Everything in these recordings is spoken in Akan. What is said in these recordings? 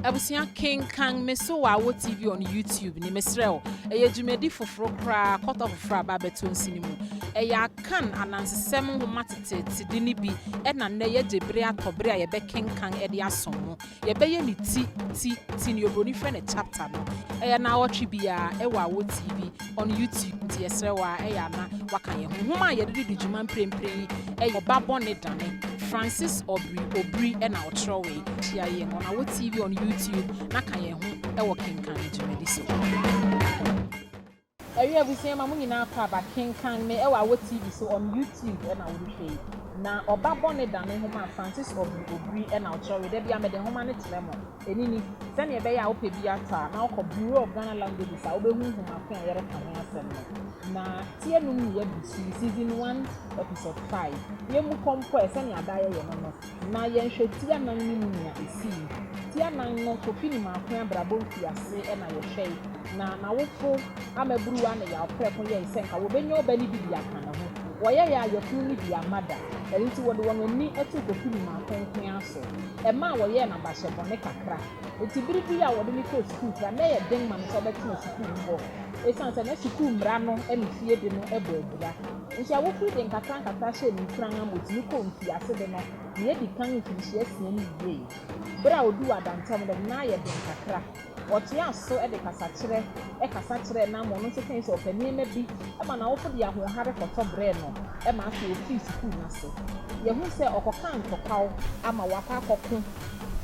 Abusua kenkan me So W'awo TV on YouTube ne mesrɛ wo. Ɛyɛ dwumadi foforo koraa kɔtɔ foforo a ba bɛtɔ nsi no mu. Ɛyɛ Akan anansesɛm nhoma teteetede no bi na nnɛ yɛagye bere atɔ bere a yɛbɛkenkan de asom mo. Yɛbɛyɛ no ti, ti, ti, nea oburoni frɛ no chapter no. Ɛyɛ nnawɔtwe biara wɔ Awo TV. on YouTube nti yɛsrɛ wo a ɛyɛ a na woaka yɛn ho. Nwoma a yɛde di di dwuma mprempren yi yɛ Ɔba Bɔne Dane, Francis Obiri Obiri na ɔkyerɛwee. Hyia yɛn on Awɔ TV on YouTube na ka yɛn ho wɔ Kenkan Me dwumadi so. Awiei abusua yi, ma mo nyinaa kɔ aba kenkan me wɔ Awɔ TV so on YouTube na worehwɛ yi. Na Ɔba Bɔne Dane nhoma a Francis Obiri Obiri na ɔkyerɛwee. Da biara mede nhoma no kyerɛ mo. Ɛno ni, Sɛnea ɛbɛyɛ a wopɛ bi atɔ a, na wokɔ Bureau of Ghana Languages a wubehu nhoma ko a yɛreka ho asɛm no. Na ti anum ne Yɛabusui, Season One, Episode Five, Yemmu Kɔ Mpo Ɛ, Sɛnea Daa Yɛyɛ No no, na yɛnhwɛ ti anan no mu nea esii. Ti anan no, Kofi ne Maakoe abrabɔ mfiase na yɛhwɛe, na n'awofo ammaburuwa ne yaw prɛko yɛe sɛ anka wobenya ɔba no bi de aka ne ho. Wɔyɛe a, yafunu no bi amma da. Ɛno nti, wɔde wɔn ani too Kofi ne Maakoe nko ara so. ɛmaa wɔyɛɛ no abahyɛ bɔne kakra. Enti bere bi a wɔde no kɔɔ sukuu koraa no, na ɛyɛ den ma no sɛ ɔbɛtena sukuu mu hɔ esiane sɛ na sukuu mmara no ne fie de no bɔ abira. Nso awofo yi de nkakrankakra hyɛɛ no nkuran ma otumi kɔɔ mfiase de no nea edi kan mfirihyia asia no wiei. Bere a oduu adantam no de no, na ayɛ den kakra. Ɔtoaa so de kasakyerɛ kasa kyerɛɛ Namor, ɔno nso kae sɛ ɔpɛ nneɛma bi ma n'awofo de ahoɔhare kɔtɔ brɛɛ no ma afei ofii sukuu no ase. Yɛahu sɛ ɔkɔkaa ntɔkwaw ama wakɔ akɔko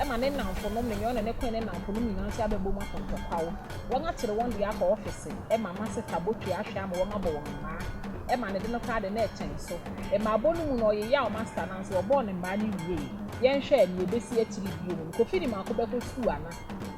ma ne nnamfonom no nyinaa, ɔne ne koe ne nnamfonom nyinaa nso abɛbom akɔ ntɔkwaw. Wɔakyere wɔn de akɔ ɔfese ma Maseta botwe ahwɛ ama wɔabɔ wɔn mmaa ma ne de no koraa de na ɛkyɛn so. Mmaabɔ no mu no ɔyeyaw Maseta nanso wɔbɔɔ no mmaa no wiei. Yɛnhwɛ nea ebesi akyiri bio no, Kofi de Mako bɛkɔ sukuu ana?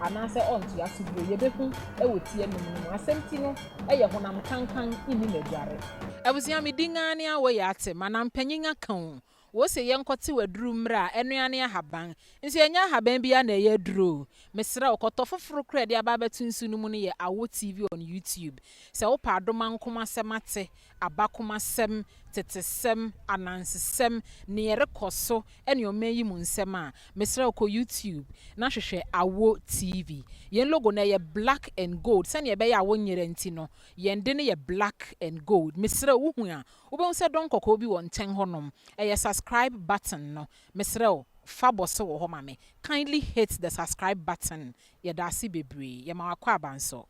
anaasɛ ɔntoa so bio. Yɛbɛhu wɔ ti anum no mu. Asɛm ti no yɛ honam kankan nni n'aguare. Abusua me din ara ne awɔ yɛ ate mana mpanyin aka o wɔ se yɛ nkɔ tew aduru mmrɛ a ɛno ara ne ahaban nso yɛ nyɛ ahaban bi ara na ɛyɛ aduro o mesrɛ wo kɔ tɔ foforo kora de aba abɛto nsu no mu no yɛ awɔ TV on YouTube sɛ wo pɛ adom ankomasɛm ate abakomasɛm, tetesɛm, anansesɛm, nea ɛrekɔ so ne ɔman yi mu nsɛm a, mesrɛ wo kɔ YouTube na hwehwɛ Awo TV. Yɛn logo no, ɛyɛ black and gold. Sɛnea ɛbɛyɛ a wonyera nti no, yɛn de no yɛ black and gold. Mesrɛ wo, wuhu a, wobɛhu sɛ dɔn kɔkɔɔ bi wɔ nkyɛn hɔnom. Ɛyɛ subscribe button no. Mesrɛ wo, fa bɔ so wɔ hɔ ma me. Kindly hit the subscribe button. Yɛda ase bebree. Yɛma wo akwaaba nso.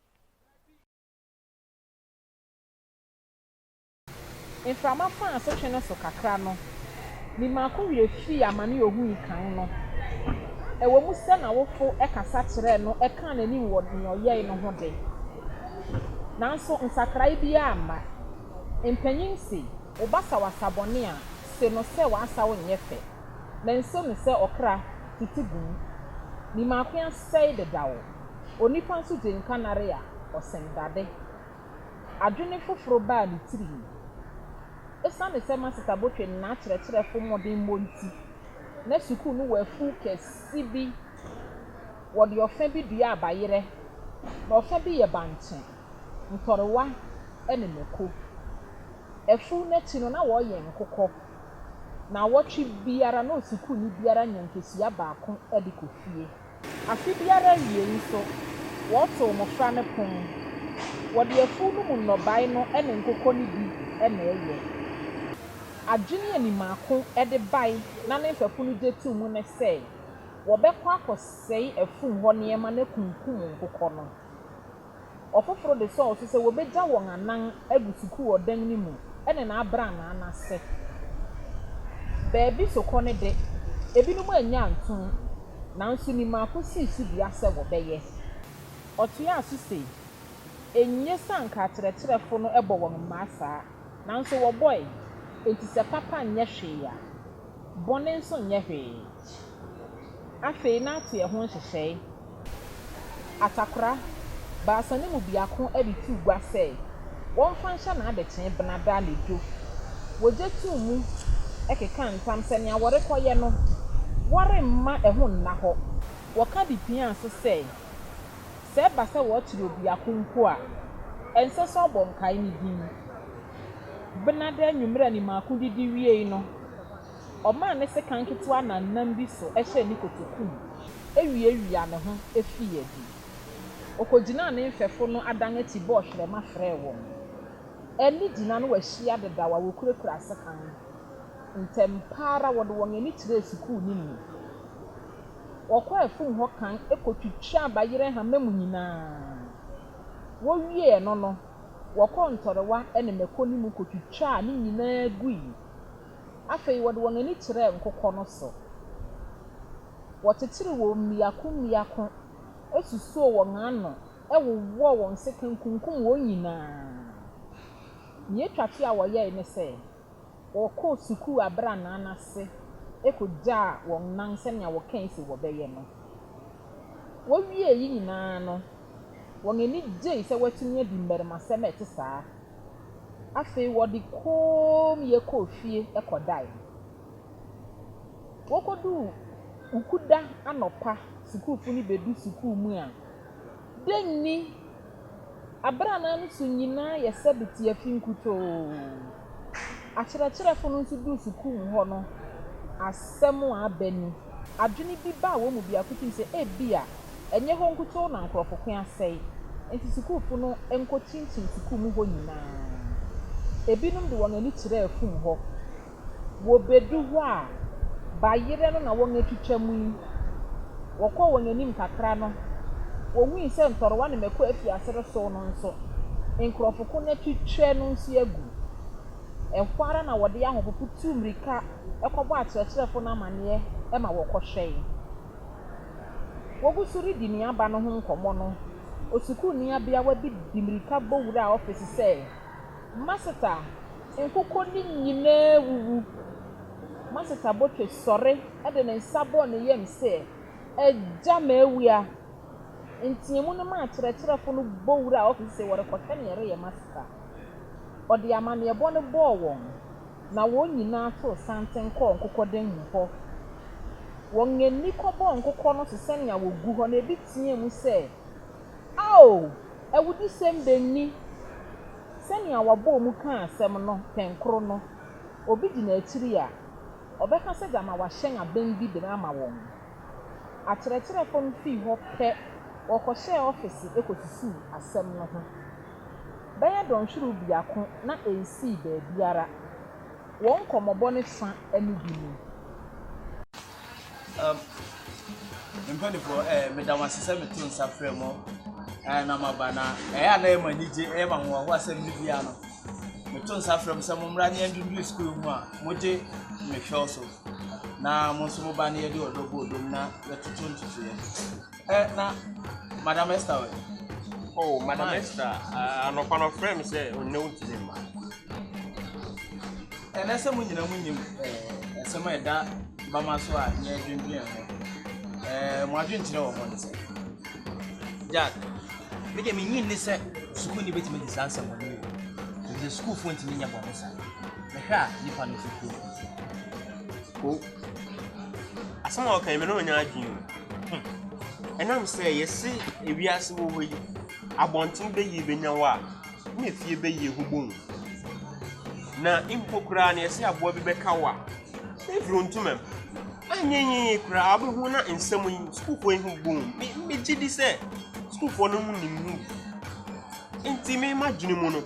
Mframa faa asotwe no so kakra no, me maako werɛ fii amane a ohui kan no. Ɛwom sɛ n'awofo kasa kyerɛɛ no kaa n'anim wɔ nea ɔyɛe no ho de, nanso nsakrae biara amma. Mpanyin se, Wo ba saw asabɔne a, se no sɛ w'asaw nyɛ fɛ. Manso no sɛ ɔkra tete gu mu. Me maako asɛe dedaw. Onipa nso gye nka nare a, ɔsen dade. adwene foforo baa ne tirim. Esiane sɛ Masita Botwe ne n'akyerɛkyerɛfo mmɔdenbɔ nti, na sukuu no wɔ afuw kɛse bi. Wɔde ɔfã bi dua abayerɛ, na ɔfã bi yɛ bankye, ntɔrewa, ne mako. Afuw no akyi no, na wɔyɛn nkokɔ. Nnawɔtwe biara, na osukuuni biara nya nkesua baako de kɔ fie. Afe biara awiei nso, wɔtow mmofra no pon. Wɔde afuw no mu nnɔbae no ne nkokɔ no bi na ɛyɛ. Adwene a Nimako de bae na ne mfɛfo no gye too mu ne sɛ wɔbɛkɔ akɔsɛe afum hɔ nneɛma na akunkum nkokɔ no. Ɔfoforo de sɔɔ so sɛ wobegya wɔn anan agu sukuu ɔdan no mu ne n'abrannaa no ase. Baabi sokɔ no de, ebinom annya antom, nanso ni mako sii so dua sɛ wɔbɛyɛ. Ɔtoaa so se, Enye sɛ anka akyerɛkyerɛfo no bɔ wɔn mmaa saa, nanso wɔbɔe, enti sɛ papa nyɛ hwee a, bɔne nso nyɛ hwee. Afei na ate ɛho nhyehyɛe. Atakora, baasa no mu biako de too gua sɛ wɔmfa nhyɛ n'adekyee Benada anadwo. Wogye too mu kekaa ntam sɛ nea wɔrekɔyɛ no, wɔremma ɛho nna hɔ. Wɔka de piaa so sɛ, sɛ ɛba sɛ wɔkyere obiako mpo a, ɛnsɛ sɛ ɔbɔ nkae no din. Benada anwummere a animako didi wiei no, Ɔmaa ne sekan ketewa nannam bi so hyɛɛ ne kotoku mu wiawiaa ne ho fii adi. Okogyinaa ne mfɛfo no adan akyi bɔɔ hwerɛma frɛɛ wɔn. Ɛnne gyina no ahyia dedaw a wokurakura sekan no. Ntɛm pa ara wɔde wɔn ani kyerɛɛ sukuu no mu. Wɔkɔɔ afum hɔ kan kotwitwaa bayerɛ nhama mu nyinaa. Wowiee ɛno no, wɔkɔɔ ntɔrewa ne mmako no mu kotwitwaa ne nyinaa gui. Afei wɔde wɔn ani kyerɛɛ nkokɔ no so. Wɔkyekyeree wɔn mmiako mmiako, susoo wɔn ano, wowɔɔ wɔn sekan kunkum wɔn nyinaa. Nea etwa to a wɔyɛe ne sɛ, wɔkɔɔ sukuu abrannaa no ase kogyaa wɔn nan sɛnea wɔkae sɛ wɔbɛyɛ no. Wowiee eyi nyinaa no, wɔn ani gyei sɛ wɔatumi adi mmarimasɛm a ɛte saa. Afei wɔde kommyɛ kɔɔ fie kɔdae. Wokoduu Wukuda anɔpa sukuufo no bedu sukuu mu a, dɛn ni? Abrannaa no so nyinaa yɛ sɛ de te afi nkutoo. Akyerɛkyerɛfo no nso duu sukuu mu hɔ no, asɛm a aba ni. Adwene bi baa wɔn mu biako tirim sɛ ebia Ɛnyɛ hɔ nkutoo na nkurɔfo ko asɛe, enti sukuufo no nkɔ kyinkyin sukuu mu hɔ nyinaa. Ebinom de wɔn ani kyerɛ afum hɔ. Wobedu hɔ a, bayerɛ no na wɔatwitwa mu yi. Wɔkɔɔ wɔn anim kakra no, wohui sɛ ntɔrewa ne mmako afi ase resow no nso. Nkurɔfo ko no atwitwa no nso agu. Ɛhɔ ara na wɔde ahopopo tuu mmirika kɔbɔɔ akyerɛkyerɛfo no amanneɛ ma wɔkɔhwɛe. Wogu so redi nea aba no ho nkɔmmɔ no, osukuuni abeawa bi de mmirika bɔ wuraa ɔfese sɛ, Maseta, nkokɔ no nyinaa awuwu! Maseta botwe sɔre de ne nsa bɔɔ ne yam sɛ, Agya, mawia! Nteɛmu no maa akyerɛkyerɛfo no bɔ wuraa ɔfese sɛ wɔrekɔhwɛ nea ɛreyɛ Maseta. Ɔde amanneɛbɔ no bɔɔ wɔn, Na wɔn nyinaa too santen kɔɔ nkokɔdan mu hɔ. Wɔn ani kɔbɔɔ nkokɔ no so sɛnea wɔgu hɔ no, ebi teɛɛ mu sɛ, Ao, awudisɛm bɛn ni! Sɛnea wɔbɔɔ mu kaa asɛm no pɛnkoro no, obi gyina akyiri a, ɔbɛka sɛ gyama wɔahyɛn abɛn bi de ama wɔn. Akyerɛkyerɛfo no fii hɔ pɛ, wɔkɔhyɛɛ ɔfese kɔsusuw asɛm no ho. bɛyɛ dɔnhwerew biako na ensii baabiara. Wɔn nkɔmmɔbɔ no fã ne bi ni. Um, me mpanyinfoɔ, eh, meda mo ase sɛ meto nsa frɛ mo eh, na maba na ɛyɛ a na ɛyɛ mo anigye, ɛyɛ mo ahoɔhoɔ asɛm no bia no. Meto nsa frɛ mo sɛ mommra ne yɛndunduru sukuu ho a mogye me hwɛw so na mo nso moba ne yɛde ɔdɔ bɔ odom na yɛtoto ntotoeɛ. Ɛ na madam Esther wɛ. Oh madam Esther anɔpa no ɔfrɛ me sɛ ɔnnɛ wontumi mma. Ɛnɛ sɛ mo nyina mo nyim ɛsɛm a ɛda bama so a nyɛ adwendwen ho. Mo adwenkyerɛ wɔ hɔ ne sɛ. Jack, me deɛ menyi nne sɛ sukuuni bɛtumi de saa nsɛm ɔne yɛ. Ɛfiri sɛ sukuufoɔ ntumi nyɛ bɔne saa. Mehwɛ a nipa no fi kurom. Ko. Asɛm a ɔka yi me ne ɔnyɛ adwene o. Hum. Ɛnam sɛ yɛse ewiase wɔ hɔ yi, abɔnten bɛyie bɛnya hɔ a, na efie bɛyie ho bɔ hu. Na mpo koraa no yɛse aboa bi bɛka wo a, na efiri ntomam. Anyɛ yie koraa wobɛhu na nsɛm yi sukuufoɔ yi ho bɔ hu. Me, megye di sɛ sukuufoɔ no ho nim ho bi. Nti me m'adwene mu no,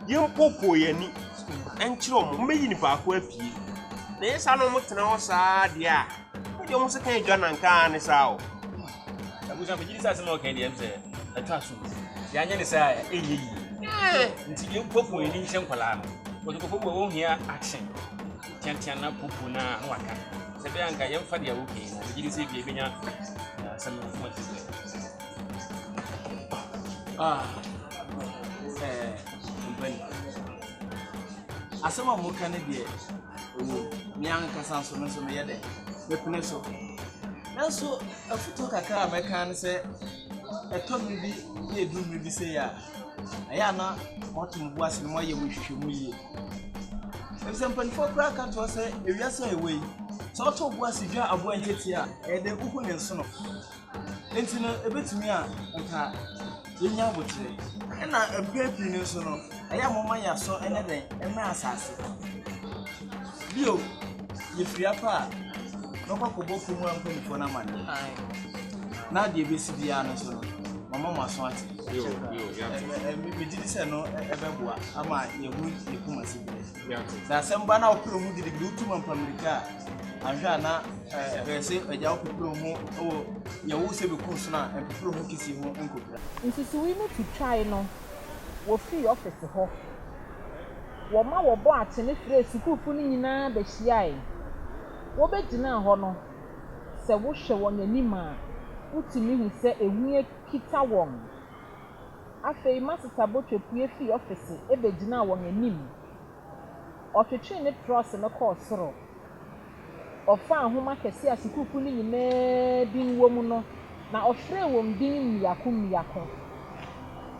yɛmpoopoo yɛn ani nkyerɛ wɔn. Wɔbɛyi nipa ko apue. Na ɛyɛ saa na wɔtena hɔ saa deɛ a, Wode ɔmo se kan adwa nanka ara ne saa o. Abusua megye di sɛ asɛm a ɔka deɛ sɛ ɛtɔ aso deɛ anyɛ ne sɛ a ɛnyɛ yie nti deɛ nkɔfo yɛ ni nkyɛ nkwadaa no wɔde nkɔfo bɔ wɔn hia action tiantia na popo na na waka sɛ bɛyɛ anka yɛn fa deɛ ɔka yi na wɔgye di sɛ ebi ebenya asɛm no fo ti sɛ ah ɛɛ mpɛn asɛm a wɔka ne deɛ. Oye, me ankasa nso, me nso meyɛ dɛ, mepene so. Nanso afutuo kakra a mɛka ne sɛ, ɛtɔ mmere bi na ɛduru mmere bi sei a, ɛyɛ a na moato mo bo ase na moayɛ mo nhwehwɛmu yie. Efisɛ mpanimfoɔ koraa ka toɔ sɛ, ewiase a yɛwɔ yi, sɛ woto wo bo ase dwa aboa nketewa a, ɛyɛ dɛ wohu ne nsono. Enti no, ebetumi a anka yenya aboterɛ. Ɛnna mpɛn pii no nso no, ɛyɛ a wɔma yɛn aso nyɛ dɛn? Ɛmmrɛ asase. Bio, yefua kɔ a, mɛkɔ akɔbɔ kurom hɔ mpanimfoɔ no amanneɛ. Na deɛ ɛbɛsi biara no nso no, mama mo aso ate. Ɛ ɛ ɛ me- Megye di sɛ ɛno ɛ- ɛbɛboa ama yɛahu yɛn koma siberɛ. Sɛ asɛm ba na wopere wo ho gidigidi, wotu mampa mmirika a, anhwɛ a na ɛbɛyɛ sɛ agya wopepere wo ho wɔ yɛ wo sɛ bɛku nsono a ɛmpepere wo ho kesee ho nkopira. Nsusuwii no twitwae no, wofii ɔfese hɔ. Wɔma wɔbɔɔ akyene frɛɛ sukuufo no nyinaa behyiae. Wobegyinaa hɔ no, sɛ wohwɛ wɔn anim a, wutumi hu sɛ ehu akita wɔn. Afei Masesa Botwe pue fii ɔfese begyinaa wɔn anim. Ɔtwetwee ne trɔse no kɔɔ soro. Ɔfaa nhoma kɛse a sukuukuw no nyinaa din wom no, na ɔfrɛɛ wɔn din mmiako mmiako.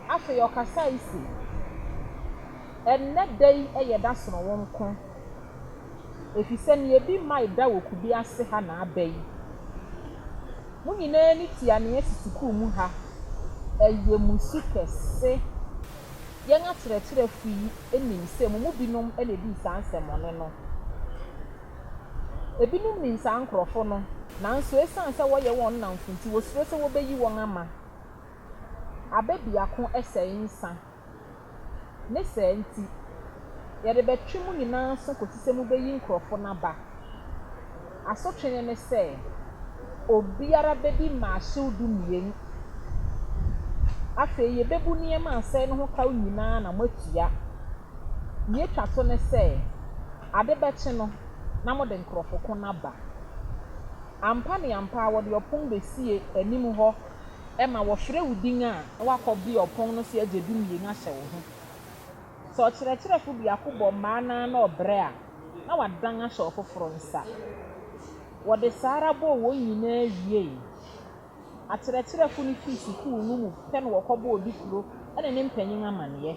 Afei ɔkasae se, Ɛnnɛ da yi yɛ da sononko. Efisɛ nea ebi mmae da wɔ kube ase ha na aba yi, mo nyinaa ani tua nea asi sukuu mu ha. Ɛyɛ mo su kɛse. Yɛn akyerɛkyerɛfo yi nim sɛ mo mu binom na edii saa nsɛmmɔne no. Ebinom nim saa nkurɔfo no, nanso esiane sɛ wɔyɛ wɔn nnamfo nti, wosuro sɛ wobeyi wɔn ama. Abɛ biako sɛe nsã. Ne saa nti, yɛde bɛtwe mo nyinaa aso kɔsi sɛ mobɛyi nkurɔfoɔ no aba. Asotwe no ne sɛ, obiara bɛdi mmaahyew dumien. Afei yɛbɛbu nneɛma a asɛe no ho kaw nyinaa na moatua. Deɛ ɛtwa to ne sɛ, ade bɛkye no na mode nkurɔfo ko no aba. Ampa ne ampa ara wɔde ɔpon bɛsie anim hɔ. ma wɔfrɛ wo din a, na woakɔbue ɔpon no so agye dumien ahyɛ wo ho. Sɛ ɔkyerɛkyerɛfo biako bɔ mmaa no ara na ɔbrɛ a, na wadan ahyɛ ɔfoforo nsa. Wɔde saa ara bɔɔ wɔn nyinaa wiei. Akyerɛkyerɛfo no fii sukuu no mu pɛ na wɔkɔbɔɔ odikuro ne ne mpanyin amanneɛ.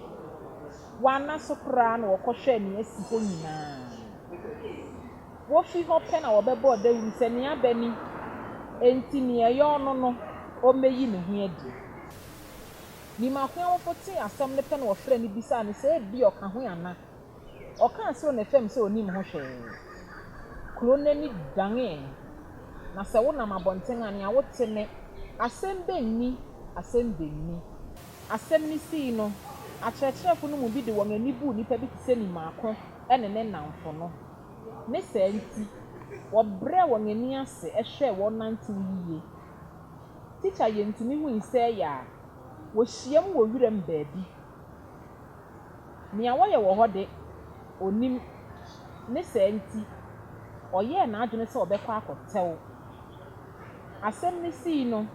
Wɔanna so koraa na wɔkɔhwɛɛ nea asi hɔ nyinaa. Wofi hɔ pɛ na wɔbɛbɔɔ dawuru sɛ, Nea bɛ ni! Enti nea ɛyɛ ɔno no, ommeyi ne ho adi. Nim ahoɛwofo tee asɛm no pɛ na wɔfrɛɛ no bisaa no sɛ ebia ɔka ho ana. Ɔkaa soro ne fam sɛ onnim ho hwee. Kurow no ani danee, na sɛ wonam abɔnten a, nea wote ne, Asɛm bɛ nni! Asɛm bɛ nni! Asɛm no sii no, akyerɛkyerɛfo no mu bi de wɔn ani buu nnipa bi te sɛ Nimaako ne ne nnamfo no. Ne saa nti, wɔbrɛɛ wɔn ani ase hwɛɛ wɔn nantew yiye. Tikya Yentumi hui sɛ ɛyɛ a, wohyiam wɔ wuram baabi. Nea wɔyɛ wɔ hɔ de, onnim. Ne saa nti, ɔyɛɛ n'adwene sɛ ɔbɛkɔ akɔtɛw. Asɛm no sii no,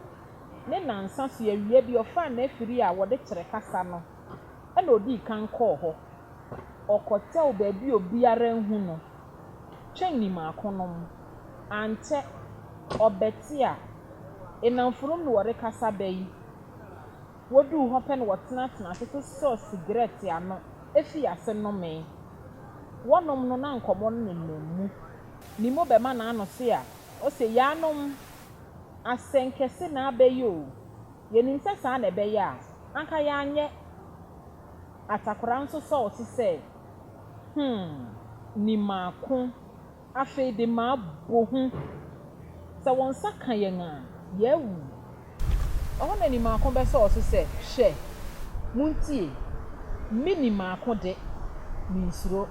ne nnansa so awia bi ɔfaa n'afiri a wɔde kyere kasa no ɛnna odii kan kɔɔ hɔ. Ɔkɔtɛw baabi a obiara anhu no kyɛn ne mmakonom. Ankyɛ, ɔbɛte a nnamfonom ne wɔrekasa bɛ yi. Woduu hɔ pɛ na wɔtenatenaa ase sosɔɔ sigaret ano fii ase nomee. Wɔnom no na nkɔmmɔ no nenam mu. Ne mu bɛma n'ano so a, ose, Yaanom, asɛnkɛse na abɛyɛ o. Yenim sɛ saa na ɛbɛyɛ a Anka yɛanyɛ atakora nso sɔɔ so sɛ, Hmm, ni maako, afei de mabɔ hu. Sɛ wɔn nsa ka yɛn a, yɛawu. Ɛhɔ na ni maako bɛsɔɔ so sɛ, Hwɛ, muntie, me ni maako de, minsuro.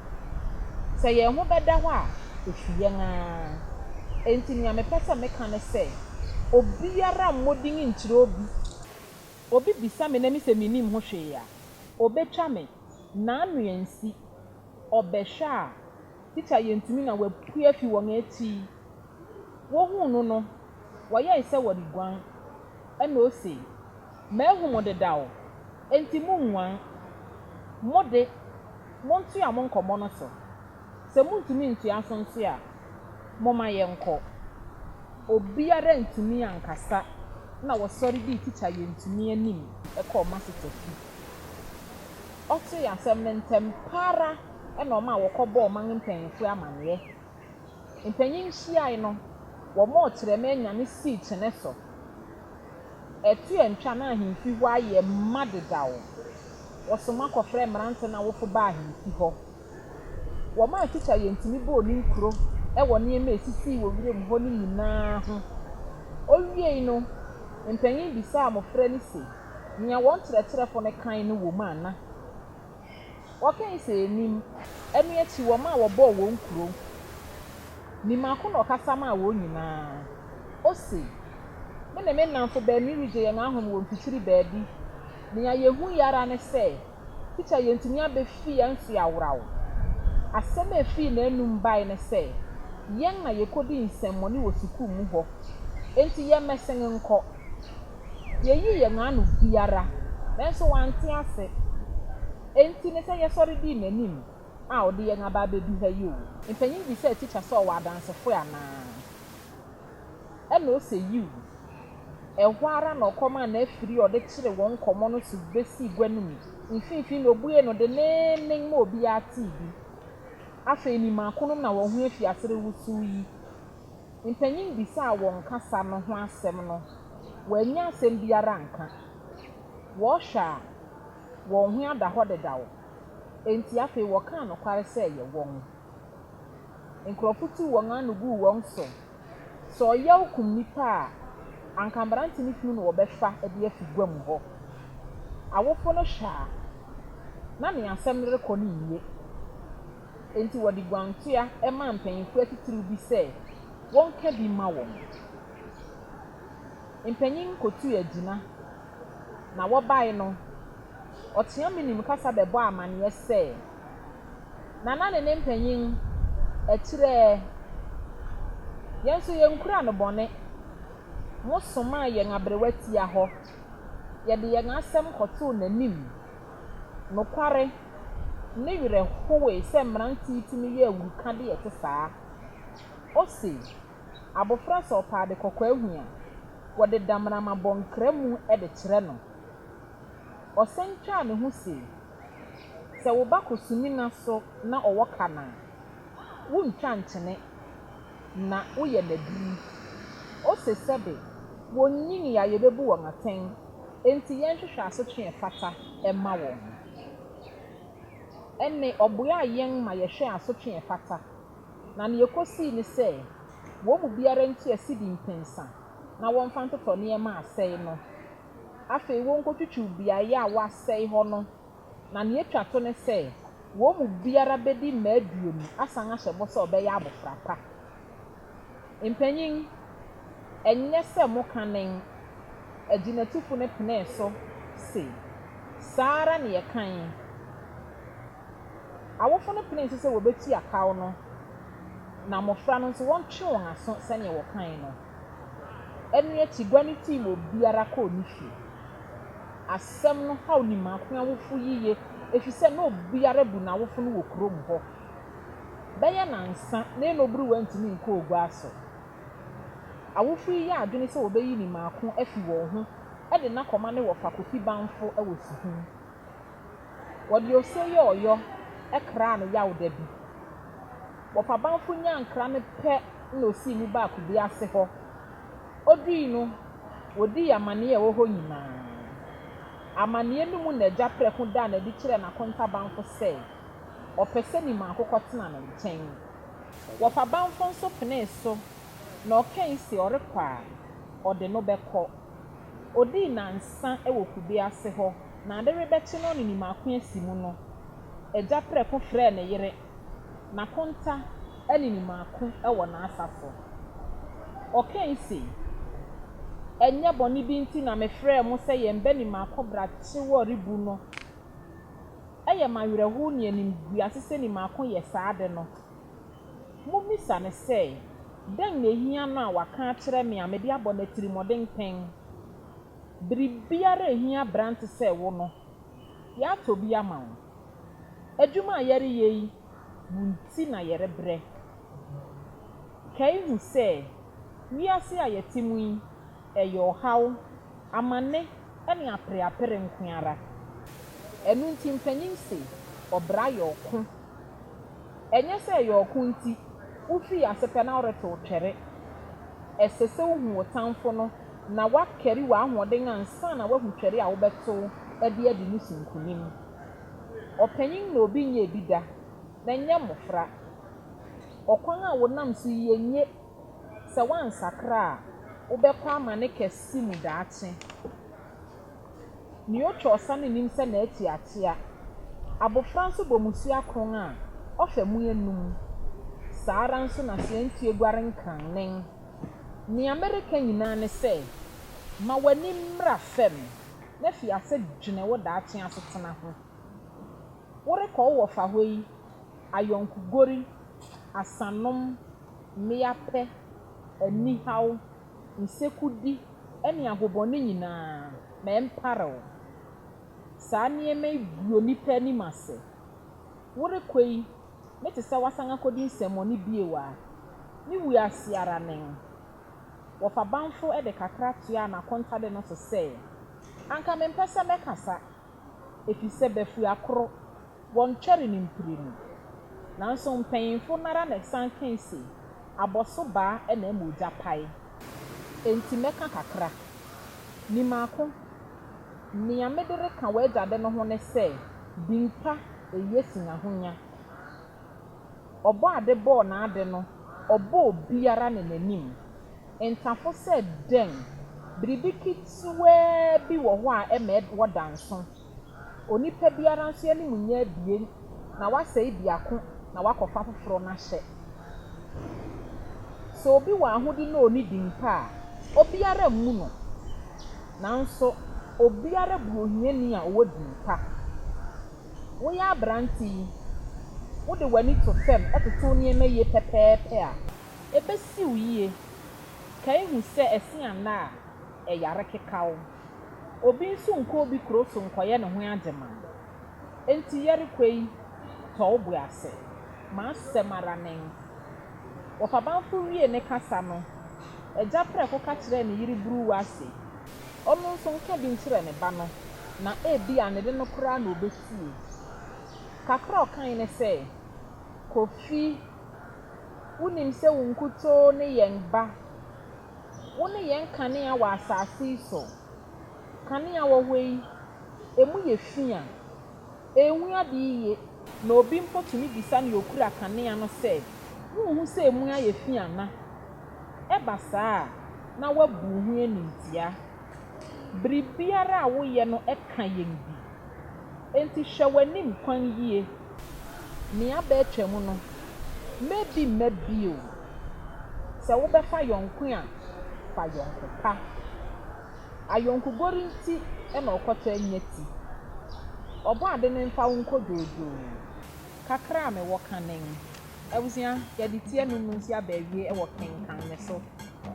Sɛ yɛn ho bɛda hɔ a, efi yɛn ara. Enti nea mepɛ sɛ meka ne sɛ, obiara mmɔ din nkyerɛ obi. Obi bisa me na mise minnim ho hwee a, obetwa me. N'ano ansi. Ɔbɛhwɛ a, Tikya Yentumi na wapue afi wɔn akyi. Wohuu no no, wɔyɛe sɛ wɔreguan. Ɛnna ose, Mahu mo dedaw, enti munguan. Mo de, montoa mo nkɔmmɔ no so. Sɛ muntumi ntoa so nso a, Momma yɛnkɔ. Obiara antumi ankasa na wɔsɔre dii Tikya Yentumi anim kɔɔ Massachusetts fi. Ɔtee asɛm no ntɛm pa ara na ɔmaa wɔkɔbɔɔ ɔman mpanyimfo amanneɛ. Mpanyin hyiae no, wɔbɔɔ kyerɛma nyame sii kyene so. Ɛto antwa na ahemfi hɔ ayɛ ma dedaw. Wɔsoma kɔfrɛɛ mmerante no awofo baa ahemfi hɔ. Wɔmaa Tikya Yentini bɔɔ ne nkuro wɔ nneɛma a ɛsisii wɔ wuram hɔ no nyinaa ho. Ɔwiei no, mpanyin bisaa mmofra no se, Nea wɔn kyerɛkyerɛfo no kae no wom ana? Wɔkae sɛ ennim. Ɛno akyi wɔmaa wɔbɔɔ wɔn nkuro. Ne mmaako na ɔkasa maa wɔn nyinaa. Ose, Me ne me nnamfo baanu regye yɛn ahome wɔ mfikyiri baabi. Nea yehui ara ne sɛ Teacher yɛntumi abefi yɛn mfe aworaw. Asɛm a efii n'anum bae ne sɛ, Yɛn na yekodi nsɛmmɔne wɔ sukuu mu hɔ, enti yɛmmɛsen nkɔ. Yeyii yɛn ano biara, nanso wante ase. Enti ne sɛ yɛsɔre dii n'anim a ɔde yɛn aba abedu ha yi oo. Mpanyin bisaa teacher sɛ ɔwɔ adansefo anaa. Ɛnna ose yiw. Ɛhɔ ara na ɔkɔm a n'afiri a ɔde kyeree wɔn nkɔmmɔ no so besii gua no mu mfinimfini na obuee no denneennen ma obiara tee bi. Afei ne mmakonom na wɔn ho afi ase rewosow yi. Mpanyin bisaa wɔn kasa no ho asɛm no, wɔannya asɛm biara anka. Wɔhwɛ a, wɔn ho ada hɔ dedaw. Enti afei wɔkaa nokware sɛ ɛyɛ wɔn. Nkurɔfo tuu wɔn ano guu wɔn so. Sɛ ɔyaw kum nnipa a, anka mmerante no funu na wɔbɛfa de afi guam hɔ. Awofo no hwɛ a, na nea asɛm no rekɔ no nnye. Enti wɔde guantoa maa mpanyimfo atitiriw bi sɛ wɔnka bi mma wɔn. Mpanyin kotuu agyina, na wɔbae no, ɔteaam nim kasa bɛbɔɔ amanneɛ sɛ, Nana ne ne mpanyin akyirɛɛ yɛn nso yɛnkura no bɔne. Mosomaa yɛn aberewa tia hɔ, yɛde yɛn asɛm kɔtoo n'anim. Nokware, ne werɛ howee sɛ mmerante yi tumi yɛ awuruka de ɛte saa. Ose, Abofra sɛ ɔpɛ ade kɔkɔɔ ahu a, wɔde damena ma bɔ nkra mu de kyerɛ no. Ɔsan twaa ne ho se, Sɛ wo ba kɔ sumina so na ɔwɔ ka no a, wontwa nkyene na woyɛ no aduru. Ose sɛ de, wonnyinii a yebebu wɔn atɛn, enti yɛnhwehwɛ asotwe a ɛfata mma wɔn. Ɛnne, ɔboaa yɛn ma yɛhwɛɛ asotwe a ɛfata, na nea ekosii ne sɛ wɔn mu biara ntua sidi mpensa na wɔmfa ntotɔ nneɛma a asɛe no. Afei wonkotwitwiw beae a wɔasɛe hɔ no, na nea etwa to ne sɛ, wɔn mu biara bedi mma aduonu asan ahyɛ bɔ sɛ ɔbɛyɛ abofra pa. Mpanyin, ɛnyɛ sɛ mo kanen agyinatufo no penee so se, Saa ara na yɛkae. Awofo no penee so sɛ wobetua kaw no, na mmofra no nso wɔntwe wɔn aso sɛnea wɔkae no. Ɛno akyi gua no tii ma obiara kɔɔ ne fie. Asɛm no haw Nimaako awofo yiye efisɛ na obiara bu n'awofo no wɔ kurom hɔ. Bɛyɛ nnansa na Enobiriw antumi nkɔɔ gua so. Awofo yi yɛɛ adwene sɛ wɔbeyi Nimaako afi wɔn ho de no akɔma ne wɔfa Kofi Banfo wɔ Suhum. Wɔde ose yɛ ɔyɔ kraa no yaw da bi. Wɔpabamfo nyaa nkra no pɛ na osii mu baa kube ase hɔ. Odui no, wodii amanneɛ a ɛwɔ hɔ nyinaa. Amanneɛ no mu na agya prɛko daa no adi kyerɛɛ n'akontabamfo sɛ ɔpɛ sɛ ne maa kokɔtena ne nkyɛn. Wɔpabamfo nso penee so na ɔkae se ɔrekɔ a, ɔde no bɛkɔ. Odii nnansa wɔ kube ase hɔ, na ade rebɛkye no ne ne mako asi mu no, agya prɛko frɛɛ ne yere, n'akonta ne ne mako wɔ n'asafo. Ɔkae se, Ɛnyɛ bɔne bi nti na mefrɛɛ mo sɛ yɛmmɛ ne mako brakye wɔ rebu no. Ɛyɛ me awerɛhow ne animguase sɛ ne mako yɛ saa ade no. Mummisa no sɛ, Dɛn na ehia no a waka akyerɛ me a mede abɔ no atirimɔden pɛn? Biribiara a ehia aberante sɛ wo no, yɛatɔ bi ama wo. Adwuma a yɛreyɛ yi mu nti na yɛrebrɛ. Kae hu sɛ, wiase a yɛte mu yi, ɛyɛ ɔhaw, amanne, ne apereapere nko ara. Ɛno nti mpanyin se, Ɔbra yɛ ɔko. Ɛnyɛ sɛ ɛyɛ ɔko nti, wufii ase pɛ na woretow twɛre. Ɛsɛ sɛ wuhu wo tamfo no na woakari w'ahoɔden ansa na woahu twɛre a wobɛtow de adi no so nkonim. Ɔpanyin na obi nyɛɛ bi da, na ɛnyɛ mmofra. Ɔkwan a wonam so yi enye, sɛ woansakra a, wobɛkɔ amane kɛse mu daakye. Nea otwa ɔsa no nnim sɛ n'ati akyea. Abofra nso bɔ mmusua kron a, ɔfa mu anum. Saa ara nso na sɛ yɛn fie guare nkrannen. Nea mereka nyinaa ne sɛ, ma w'ani mmra fam na fi ase dwene wo daakye asetena ho. Worekɔ wo wɔfahɔ yi, ayɔnkogori, asanom, mmeapɛ, anihaw, nsekudi ne ahobɔne nyinaa, ma ɛmpare wo. Saa nneɛma yi gu onipa anim ase. Worekɔ yi, ne te sɛ woasan akɔdi nsɛmmɔne bio a, ne wu ase ara nen. Wɔfa bamfo de kakra toaa n'akontade no so sɛ, Anka mempɛ sɛ mɛkasa. efisɛ bafua koro, wɔntwɛre no mprenu. Nanso mpanyimfo no ara na ɛsan kae se, Abɔso baa na ɛma ogya pae. Enti mɛka kakra. Ni mako, Nea mede reka w'agya de no ho ne sɛ, Din pa eye sen ahonya. Ɔbɔade bɔɔ n'ade no, ɔbɔɔ obiara ne n'anim ntafo sɛ dɛn? Biribi ketewaa bi wɔ hɔ a ɛma wɔda nso. Onipa biara nso anim nyɛ abien, na wasɛe biako na wakɔfa foforo no ahyɛ. Sɛ obi wɔ ahode na onni din mpo a, obiara mmu no. Nanso, obiara bu ohiani a ɔwɔ din pa. Woyɛ aberante yi, wode w'ani to fam toto nneɛma yie pɛpɛɛpɛ a, ɛbɛsi wo yie. Kae hu sɛ ɛse anna a, ɛyare keka wo. Obi nso nkɔ obi kuro so nkɔyɛ ne ho agyemang. Enti Yeriko yi, tɔ wo bo ase. M'asɛm ara nen. Wɔfabamfo wiee ne kasa no, agya prɛko ka kyerɛɛ ne yere buruwa se. ɔno nso nka bi nkyerɛ ne ba no, na ebia ne de no koraa na obetie. Kakra a ɔkae ne sɛ, Kofi, wunim sɛ wo nkutoo ne yɛn ba. Wone yɛn kanea wɔ asase yi so. Kanea wɔ hɔ yi, emu yɛ fi a. Enwu ade yiye, na obi mpo tumi bisa nea okura kanea no sɛ, Wunhu sɛ emu ayɛ fi ana? Ɛba saa a, na wabu wo ho animtiaa. Biribiara a woyɛ no ka yɛn bi. Enti hwɛ w'anim kwan yie. Nea aba atwam no, mɛ bi mma bio. Sɛ wobɛfa yɔnko a, fa yɔnko pa. Ayɔnkogor ntsi na ɔkɔtaa nya tsi. Ɔbɔadze no mfa wo nkɔ dwoodwoo. Kakra a mewɔ kã no nye. Ebusua, yɛdze tsia no mu ntsi aba ewiei wɔ Kenkan me so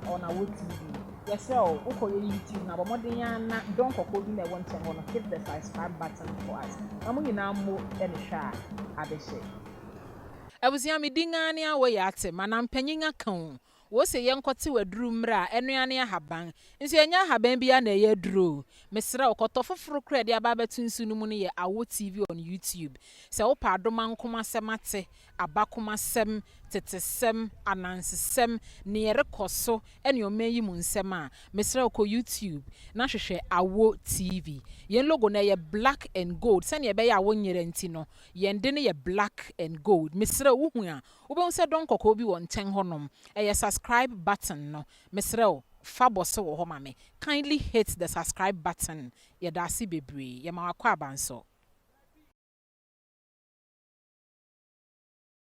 wɔ Nawo TV. Yɛserɛ wo, wokɔ yɛ YouTube no a, bɔ mbɔdzen ara na dɔ nkɔkɔɔ bi na ɛwɔ nkyɛn hɔ no, hit the subscribe button for us na mo nyinaa mmɔ no hwɛ a, adehye. Ebusua, me din ara nye Awoye Atse, m'anampanyin akã o, Wose yɛnkɔtew aduru mmrɛ a, ɛno ara ne ahaban. Nso ɛnyɛ ahaban biara na ɛyɛ aduru o. Mesrɛ wo, kɔtɔ foforo koraa a ɛde aba abɛto nsu no mu no yɛ Awo TV on YouTube. Sɛ wopɛ adomankom asɛm ate, abakomasɛm, tetesɛm, anansesɛm, nea ɛrekɔ so ne ɔman yi mu nsɛm a, mesrɛ wo kɔ YouTube na hwehwɛ Awo TV. Yɛn logo no, ɛyɛ black and gold. Sɛnea ɛbɛyɛ a wonyera nti no, yɛn de no yɛ black and gold. Mesrɛ wo, wuhu a, Wobɛhu sɛ dɔn kɔkɔɔ bi wɔ nkyɛn hɔ nom, ɛyɛ subscribe button no. Mesrɛ wo fa bɔ so wɔ hɔ ma me. Kindly hit the subscribe button. Yɛdaase bebree. Yɛma wakɔ aba nso.